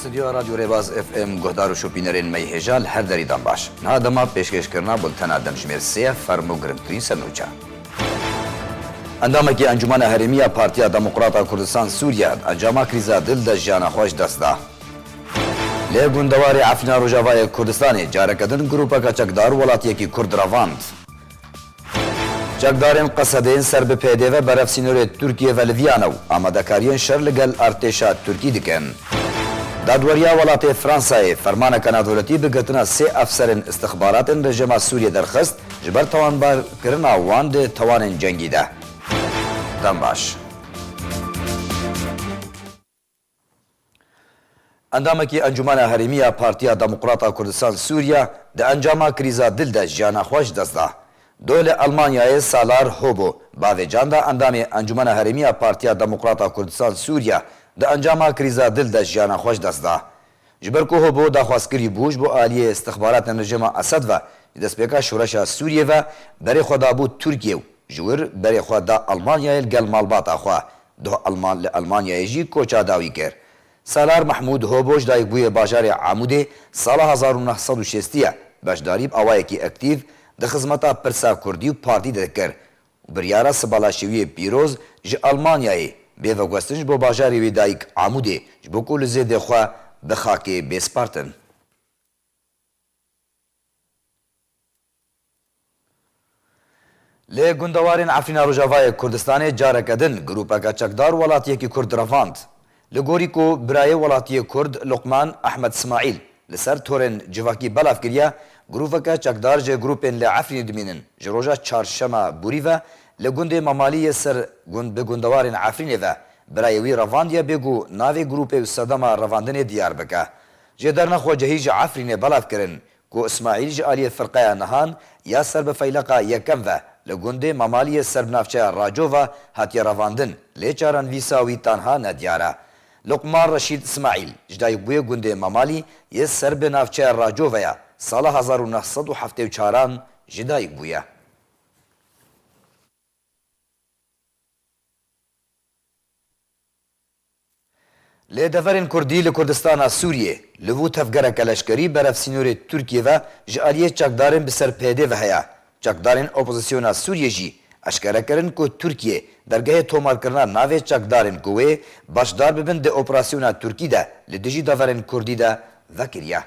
Stûdyoya Radyo Rêbaz FM guhdar û şopînerên me yê hêja li her derî dan baş. Niha dema pêşkêşkirina bultena demjimêr sê ye ferm û girngtirîn ser nûçe. Endamekî Encûmena Herêmî ya Partiya Demokrat a Kurdistan Sûrîye, encama krîza dil de jiyana xwe ji dest da. Li gundewarê Efrîna Rojavayê Kurdistanê careke din grûpeke çekdar welatiyekî Kurd revand. Çekdarên Qesede yên ser bi PYD ve berev sînorê Tirkiyê ve liviyane û amadekariyên şer li gel artêşa Tirkî dikin. Dadweriya welatê Fransayê fermaneke navdewletî bi girtina sê efserên îstixbaratên rejima Sûriyê derxist ji ber tawanbarkirina wan di tawanên cengî de. Dem baş. Endamekî Encûmena Herêmî ya Partiya Demokrata Kurdistan Sûriye di encama krîza dil de jiyana xwe ji dest da. Do li Elmanyayê Salar Hobo bavê can da endamê Encûmena Herêmî ya Partiya Demokrata Kurdistan Sûriye di encama krîza dil de jiyana xwe ji dest da. Ji ber ku Hobo daxwazkirî bû ji bo aliyê îstixbaratên rejîma Esed ve ji destpêka şoreşa Sûriyê ve berê xwe dabû Tirkiyê û ji wir berê xwe da Elmanyayê li gel malbata xwe. Duh Elman li Elmanyayê jî koça dawî kir. Salar Mehmûd Hobo ji dayikbûyê bajarê Amûdê sala hezar û neh sed û şêst ye. Beşdarî bi awayekî ektîv di xizmeta Pirsa Kurdî û Partî de dikir. Biryara sibalaşêwiyê pîroz ji Almanyayê bê veguhestin ji bo bajarê wê dayik Amûdê ji bo ku li zêdê xwe bi xakê bêspartin. Li gundewarên Efrîna Rojavayê Kurdistanê careke din grûpeke çekdar welatiyekî Kurd revand. Li gorî ku birayê welatiyê Kurd Luqman Ehmed Simaîl li ser torên civakî belav kiriye, grûveke çekdar ji grûpên li Efrînê dimînin ji roja çarşema borî ve li gundê Mamalî yê ser gund bi gundewarên Efrînê ve birayê wî revandiye bê ku navê grûpê û sedema revandinê diyar bike. Jêderna xwecehî ji Efrînê belav kirin Ku Ismaîl ji aliyê firqeya Nihan ya ser bi feyleqa yekem ve li gundê Mamaliyê ser bi navçeya Racova hatiye revandin lê çaran vîsa wî tanha ne diyar e. Luqman Reşîd Ismaîl ji dayikbûyê gundê Mamalî yê ser bi navçeya Racova ya sala hezar û neh sed û heftê û çar an jî dayik bûye. Lê deverên Kurdî li Kurdistana Sûriyê, li vû tevgereke leşkerî berev sînorê Tirkiyê ve ji aliyê çekdarên bi ser PYD ve heye. Çekdarên opozîsyona Sûriyê jî eşkere kirin ku Tirkiyê dergehê tomarkirina navê çekdarên ku wê beşdar bibin di operasyona Tirkî de li dijî deverên Kurdî de vekiriye.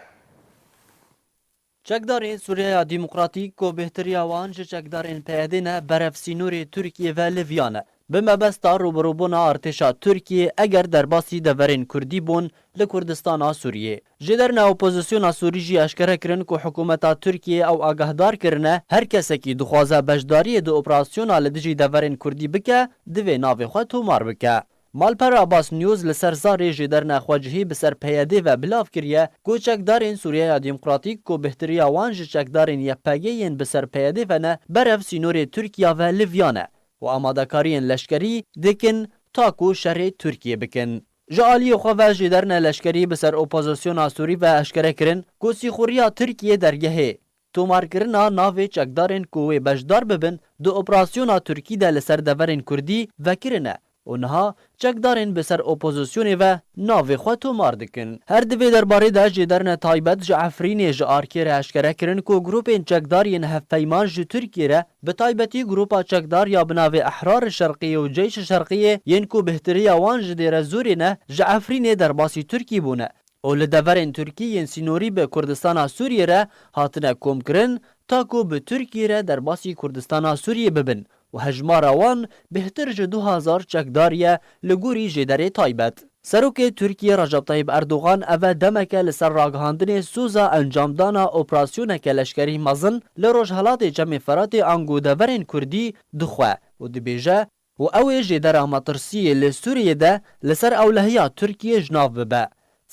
Çekdarên Sûriyeya Demokratîk ku bêhtirîya wan ji çekdarên PYD'ê ne berev sînorê Tirkiyê ve li viyane. Bi mebesta rûbirûbûna artêşa Tirkiyê eger derbasî deverên Kurdî bûn li Kurdistana Sûriyê. Ji derine opozisyona Sûrî jî eşkere kirin ku hikûmeta Tirkiyê ew agahdar kirine her kesekî dixwaze beşdariyê di operasyona li dijî deverên Kurdî bike divê navê xwe tomar bike. Malper Abbas News li ser zarê ji derna xwecihî bi ser PYD'ê ve bilav kiriye ku çekdarên Sûriyeya Demokratîk ku bihtirîya wan ji çekdarên YPG yên bi ser PYD'ê ve ne berev sînorê Tirkiya ve livyane û amadekariyên leşkerî dikin ta ku şerê Tirkiyê bikin. Ji aliyê xwe ve ji derna leşkerî bi ser opozisyona Sûrî ve eşkere kirin ku sîxuriya Tirkiyê dergehê Tomarkirina navê çekdarên ku wê beşdar bibin di operasyona Tirkî de li ser deverên Kurdî vekirine û niha çekdarên bi ser opozisyonê ve navê xwe tomar dikin. Her di vê derbarê de jê derine taybet ji Efrînê ji ARK'ê re eşkere kirin ku grûpên çekdar yên hevpeyman ji Tirkiyê re bi taybetî grûpa çekdar ya bi navê Ehrar-i Şerqî û Ceyş-i Şerqî'ê yên ku bêhtiriya wan ji Dêrezorê ne ji Efrînê derbasî Tirkî bûne û li deverên Tirkî yên sînorî bi Kurdistana Sûriyê re hatine komkirin ta ku bi Tirkiyê re derbasî Kurdistana Sûriyê bibin û hejmara wan bêhtir ji du hezar çekdar ye li gorî jêderê taybet. Serokê Tirkiyê Recep Tayyîp Erdogan eve demeke li ser ragihandinê soza encamdana operasyoneke leşkerî mezin li Rojhelatê Çemê Feratê ango deverên Kurdî dixwe û dibêje, û ew ê jê dera metirsiyê li Sûriyeyê de li ser ewlehiya Tirkiyê ji nav bibe.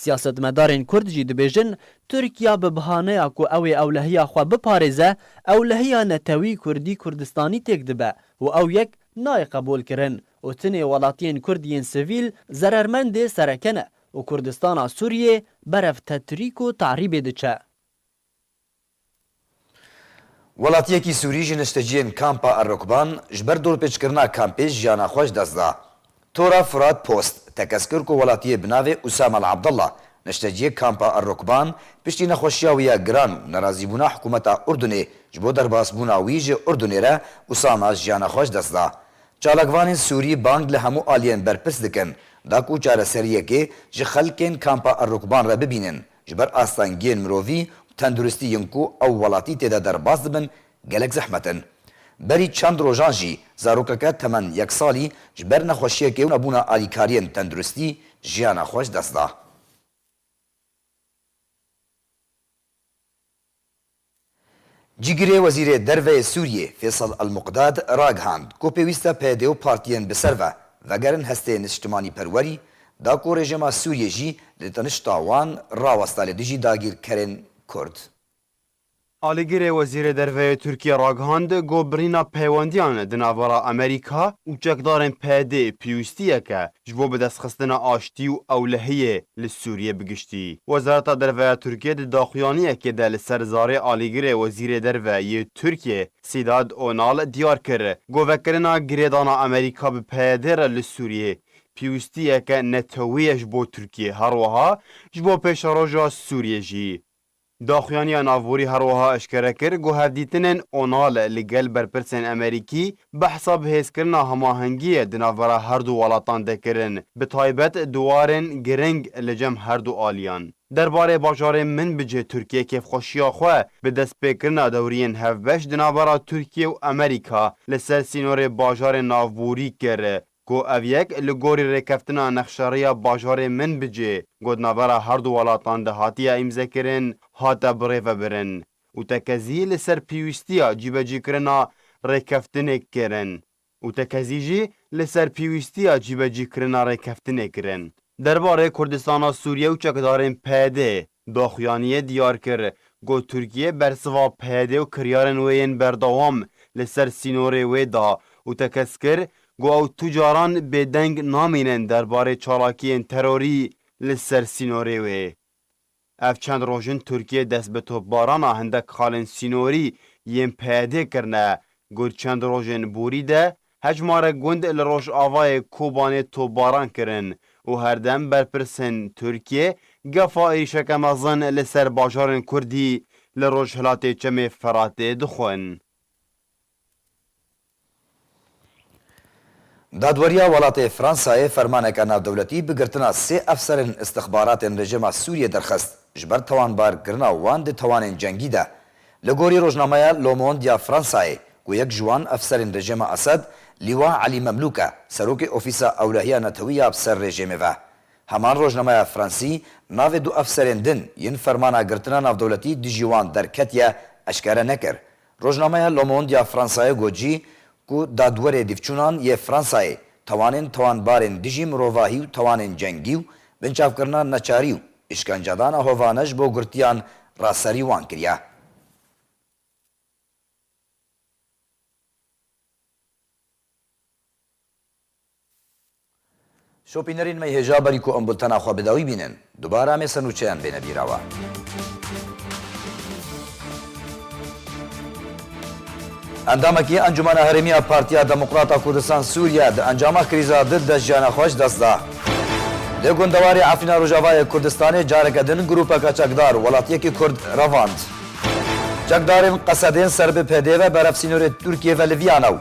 Siyasetmedarên Kurd jî dibêjin Tirkiya bi bihaneya ku ew ê ewlehiya xwe biparêze, ewlehiya netewî Kurdî Kurdistanî têk dibe û ew yek nayê qebûlkirin û tinê welatiyên Kurd yên sivîl zerermendê sereke ne û Kurdistana Sûriyê berevtetrîk û te'rîbê diçe. Welatiyekî Sûrî ji nişteciyên Kampa Erokban ji ber dorpêçkirina kampê jiyana xwe ji dest da. Tora Fûrat Post tekez kir ku welatiyê bi navê Usam Al Abdallah, nişteciyê Kampa Erokban piştî nexweşiya wî ya giran û nerazîbûna hikûmeta Urdunê ji bo derbasbûna wî ji Urdunê re Usama jiyana xwe ji dest da. Çalakvanên Sûrî bang li hemû aliyên berpirs dikin da ku çareseriyekê ji xelkên Kampa Erokban re bibînin. Ji ber astengiyên mirovî û tenduristî yên ku ew welatî tê de derbas dibin gelek zehmet in. Berî çend rojan jî zarokeke temen yek salî ji ber nexweşiyekê û nebûna alîkariyên tenduristî jiyana xwe ji dest da. Cîgirê Wezîrê Derve yê Sûriyê Fêsal El-Muqdad ragihand ku pêwîst e PYD û partiyên bi ser ve vegerin hestê niştimanîperwerî, da ku rejîma Sûriyê jî li tenişta wan raweste li dijî dagîrkerên Kurd. Alîgirê Wezîrê Derve yê Tirkiyê ragihand ku birîna peywendiyan di navbera Amerîka û çekdarên PYDê pêwîstiyek e Ji bo bidestxistina aştî û ewlehiyê li Sûriyê bi giştî, Wezareta Derve ya Tirkiyê di daxuyaniyekê de li ser zarê alîgirê Wezîrê Derve yê Tirkiyê Sedat Onal diyar kir, Govekirina girêdana Amerîka bi PYD re li Sûriyê pîwistiyeke neteweyê ye ji bo Tirkiyê, herweha ji bo pêşeroja Sûriyê jî. Daxuyaniya navborî her wiha eşkere kir ku hevdîtinên Onal li gel berpirsên Amerîkî behsa bihêzkirina hemahengiyê di navbera her du welatan de kirin, bi taybet di warên giring li cem her du aliyan. Derbarê bajarê min bicih Tirkiye kêfxweşiya xwe bi destpêkirina dewriyên hevbeş di navbera Tirkiye û Amerîka li ser sînorê bajarên navborî kir. Ku ev yek li gorî rêkeftina nexşariya bajarê Minbicê ku di navbera her du welatan de hatiye îmzekirin, hate birêvebirin û tekezî li ser pîwîstiya cîbecîkirina rêkeftinê kirin û tekezî jî li ser pîwîstiya cîbecîkirina rêkeftinê kirin. Derbarê Kurdistana Sûriye û çekdarên PYD'ê Daxuyaniyê diyar kir, got Tirkiye bersiva PYD û kiryarên wê yên berdewam li ser sînorê wê da û tekez kir ku ew tu caran bêdeng namînin derbarê çalakiyên terorî li ser sînorê wê. Ev çend roj in Tirkiye dest bi topbarana hindek xalên sînorî yên PYDê kirine, got çend rojên borî de Hejmarek gund li rojavayê Kobanê topbaran kirin û herdem berpirsên Tirkiyê gefa êrîşeke mezin li ser bajarên Kurdî li rojhilatê Çemê Feratê dixwin. Dadweriya welatê Fransayê fermaneke navdewletî bi girtina sê efserên îstixbaratên rejîma Sûriyê derxist, ji ber tawanbar kirina wan di tawanên cengî de Li gorî rojnameya Le Monde ya Fransayê ku yek ji wan efserên rejêma Esed Lîwa Elî Memlûk e, serokê ofîsa ewlehiya netewî ya bi ser rejêmê ve. Heman rojnameya fransî navê du efserên din yên fermana girtina navdewletî dijî wan derketiye eşkere nekir. Rojnameya Le Monde ya Fransayê got jî ku dadwerê dîvçûnan yê Fransayê tawanên tawanbarên dijî mirovahî û tawanên cengî û binçavkirina neçarî û îşkencedana hovane ji bo girtiyan ra serî wan kiriye. Şopînerên me hêja berî ku em bultena xwe bi dawî bînin. Dubare em ê ser nûçeyan bêne bîra we. Endamekî Encûmena Herêmî ya Partiya Demokrat a Kurdistan Sûriye di encama krîza di deh jiyana xwe ji dest da. Di gundewarê Efrîna Rojavayê Kurdistanê careke din grûpeke çekdar welatiyekî Kurd revand. Çekdarên qesedên ser bi PD've berev sînorê Tirkiyê ve li Viyana û